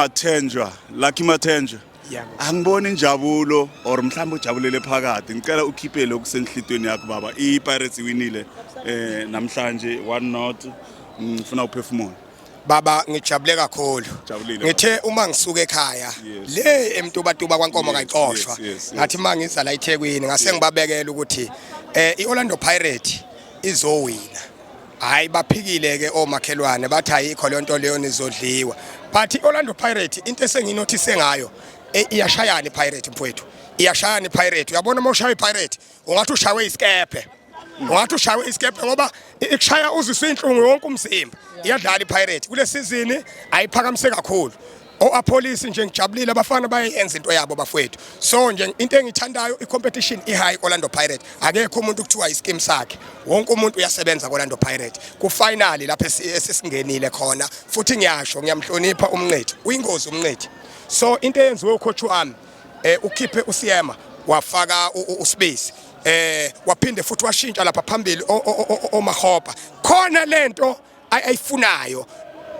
Athenjwa Lucky Mathenjwa angiboni injabulo or mhlawumbe ujabulele phakathi ngicela ukhiphe lokhu senhlitweni yakho baba i-pirates iwinile eh namhlanje one not ngifuna uphefumula baba ngijabule kakhulu ngithe uma ngisuka ekhaya le emtubatuba kwankomo kayicoshwa ngathi uma ngiza la ethekwini ngase ngibabekela ukuthi eh i-orlando pirate izowina hayi baphikile ke omakhelwane bathi ayikho le nto leyo nizodliwa but i-orlando pirate into esenginothise ngayo e, iyashayana ipirate mfowethu iyashayana ipirate uyabona uma ushaya ipirate ungathi ushawe isikebhe ungathi ushawe isikebhe ngoba ikushaya uziswa inhlungu yonke umzimba iyadlala ipirate kule sizini ayiphakamise kakhulu oapolice nje ngijabulile abafana bayenza into yabo bafowethu so nje into engithandayo icompetition ihigh Orlando Pirates akekho umuntu kuthiwa iskim sakhe wonke umuntu uyasebenza Orlando Pirates ku finally lapha esisingenile khona futhi ngiyasho ngiyamhlonipha umnqethi uyingozi umnqethi so into eyenziwe ucoach wami eh ukhiphe usiyema wafaka usibisi eh waphinde futhi washintsha lapha phambili omahopa khona lento ayifunayo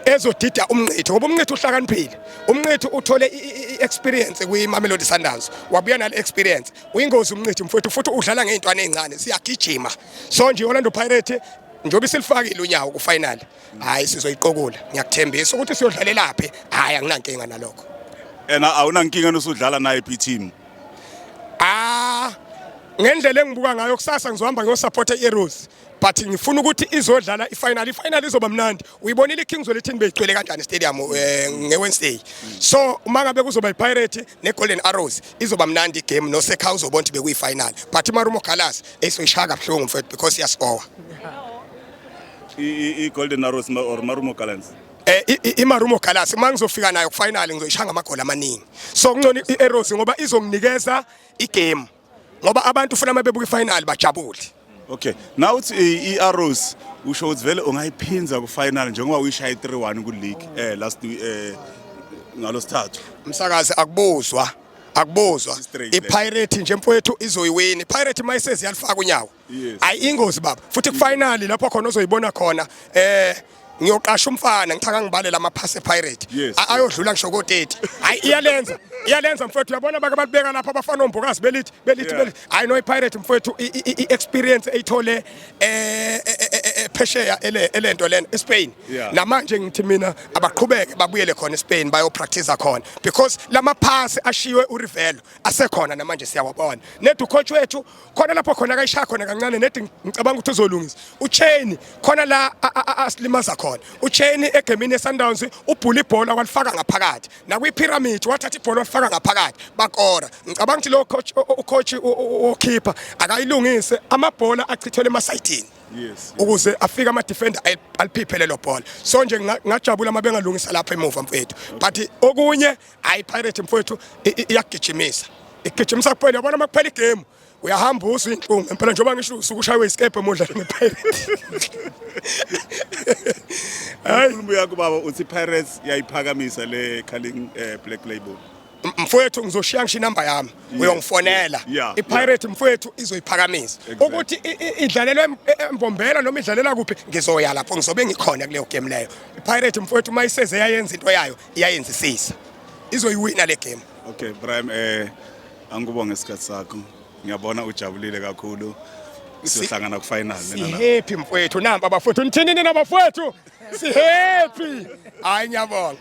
ezodida umnqitho ngoba umnqitho uhlakaniphile umnqitho uthole i-experience kwi-mamelodi sundowns wabuya nale experience uyingozi umnqitho mfowethu futhi udlala ngey'ntwana ey'ncane siyagijima so nje i-orlando pirate njengoba isilifakile unyawo kufinali hhayi sizoyiqokula ngiyakuthembisa ukuthi siyodlalelaphi hhayi anginankinga nalokho ena awunankinga nosudlala naye phi-team ah ngendlela engibuka ngayo kusasa ngizohamba ngiyosaphotha i-eros but ngifuna ukuthi izodlala ifinal ifinal izoba mnandi uyibonile ikings welithini beyigcwele kanjani stadium eh, ngewednesday so uma ngabe kuzoba ipirate negolden arrows izoba mnandi igame nosekha uzobona ukuthi bekuyifinal but imarumo galas esoyishaya kabuhlungu mfethu because iyasikowa i-golden arrows or marumo galans eh imarumo galas uma ngizofika nayo kufinal ngizoyishaya ngamagoli amaningi so kuncono i-arrows ngoba izonginikeza igame ngoba abantu ufuna uma bebuka ifinal bajabule okay now uthi i-arrows usho ukuthi vele ungayiphinza kufinal njengoba uyishaye 3-1 kuleague eh last eh ngalosithathu msakazi akubuzwa akubuzwa Straight, le. ipirate nje mfowethu izoyiwini ipirate mayisezi yalifaka unyawo ayi ingozi baba futhi kufinally lapho khona ozoyibona khona eh ngiyoqasha umfana ngichaka ngibalela amaphasi epirate Yes. A- ayodlula ngisho ko-30 hayi iyalenza iyalenza mfowethu uyabona bake balibeka lapha abafana ombokazi belithi belithi Yeah. belithi hayi no ipirate mfowethu i- i- i- i-experience eyithole eh, eh, eh, eh, phesheya ele- elento lena espain Yeah. namanje ngithi mina abaqhubeke babuyele khona espain bayopractice khona because lamaphasi ashiywe urivelo asekhona namanje siyawabona nedukhotshi wethu khona lapho khona akayishaya khona kancane nedi ngicabanga ukuthi uzolungisa ucheni khona la asilimaza khona ucheni egemini yesundowns ubhula ibhola walifaka ngaphakathi nakwipyramid wathatha ibhola walifaka ngaphakathi bakora ngicabanga ukuthi lo coach ucoach okhipha akayilungise amabhola achithelwe emasayidini yes ukuze afike ama defender aliphiphe lelo bhola so nje ngajabula mabengalungisa lapha emuva mfethu but okunye Hayi Pirate mfowethu iyagijimisa. Igijimisa kuphela yabona uma kuphela igame uyahamba usu inhlungu impela njengoba ngisho usuku ushaywe isikebhe modla nePirates. Hayi ukhuluma yakho baba uthi Pirates yayiphakamisa le Carling eh, Black Label. mfowethu ngizoshiya ngisho inamba yami uyongifonela ipirate mfowethu izoyiphakamisa ukuthi idlalelwe embombela noma idlalela kuphi ngizoya lapho ngizobe ngikhona kuleyo game leyo ipirate mfowethu uma iseze yayenza into yayo iyayenzisisa izoyiwina le game okay Brian eh angikubonge isikhathi sakho ngiyabona ujabulile kakhulu siyohlangana kufinal mina na sihappy mfowethu namba abafowethu nithini nina bafowethu sihappy hayi ngiyabonga